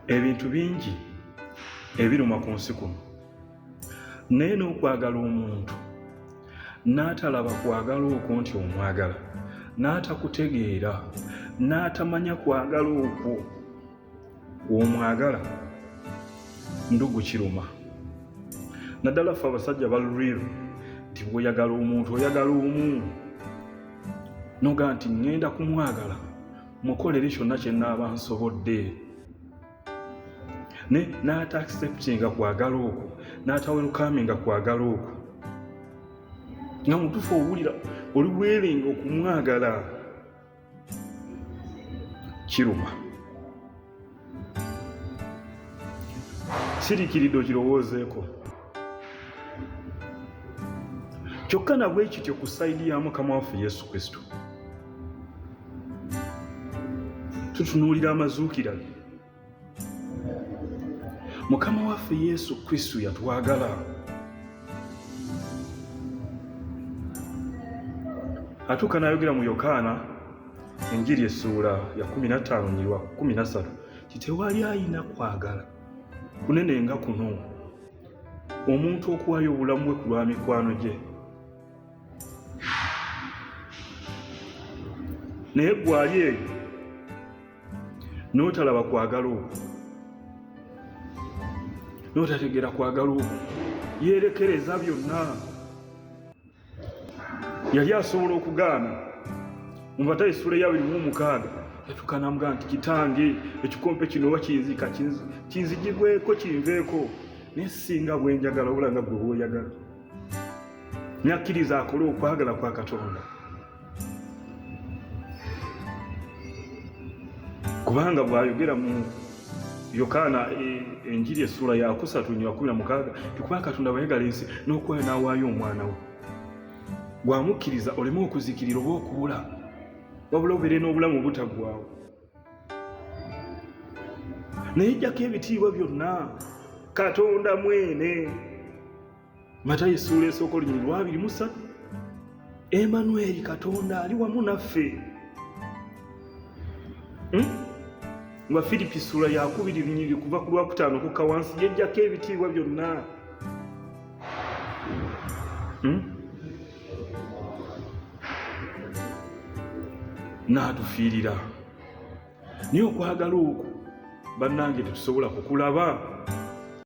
ebintu bingi ebiruma ku nsi kuno naye n'okwagala omuntu n'atalaba kwagala okwo nti omwagala n'atakutegeera n'atamanya kwagala okwo womwagala ndugu kiruma naddala ffe abasajja ba real nti bwoyagala omuntu oyagala omu noga nti ŋŋenda kumwagala mukolere kyonna kye naaba nsobodde ne n'ata acceptinga kwagala okwo n'ata welkaminga kwagala okwo nga mutufu owulira oli weerenga okumwagala kiruma sirikiridde okirowoozeeko kyokka nabwe kityo ku sayidi ya mukama waffe yesu kristo tutunuulira amazuukira ge mukama waffe yesu kristo yatwagala atuuka n'ayogera mu yokaana Enjiri essuula ya 15 nyirwa 13 titewali ayina kwagala kunene nga kuno omuntu okuwaayo obulamu bwe ku lwa mikwano gye naye gwali eyo n'otalaba kwagala okwo n'otategeera kwagala okwo yeerekereza byonna yali asobola okugaana mubata esula eyabiri mu omukaaga yatuka namugaa nti kitange ekikompe kino oba kinzika kinzijibweko kinveeko naye singa bwenjagala obula nga gwe woyagala nakkiriza akole okwagala kwa katonda kubanga bwayogera mu yokaana e, enjiri essuula yakusatu nyo yakumi na mukaaga tikuba katonda bwayagala ensi n'okuwayo n'awaayo omwana we bwamukkiriza oleme okuzikirira oba okubula wabula obeere n'obulamu obutaggwawo naye jjako ebitiibwa byonna katonda mwene matayo essuula esooka olunyiri lwabiri musatu emanueri katonda ali wamu naffe hmm? nga firipi ssuula yakubiri lunyiri kuva ku lwakutaano kukka wansi yejjako ebitiibwa byonna hmm? n'atufiirira naye okwagala okwo bannange tetusobola kukulaba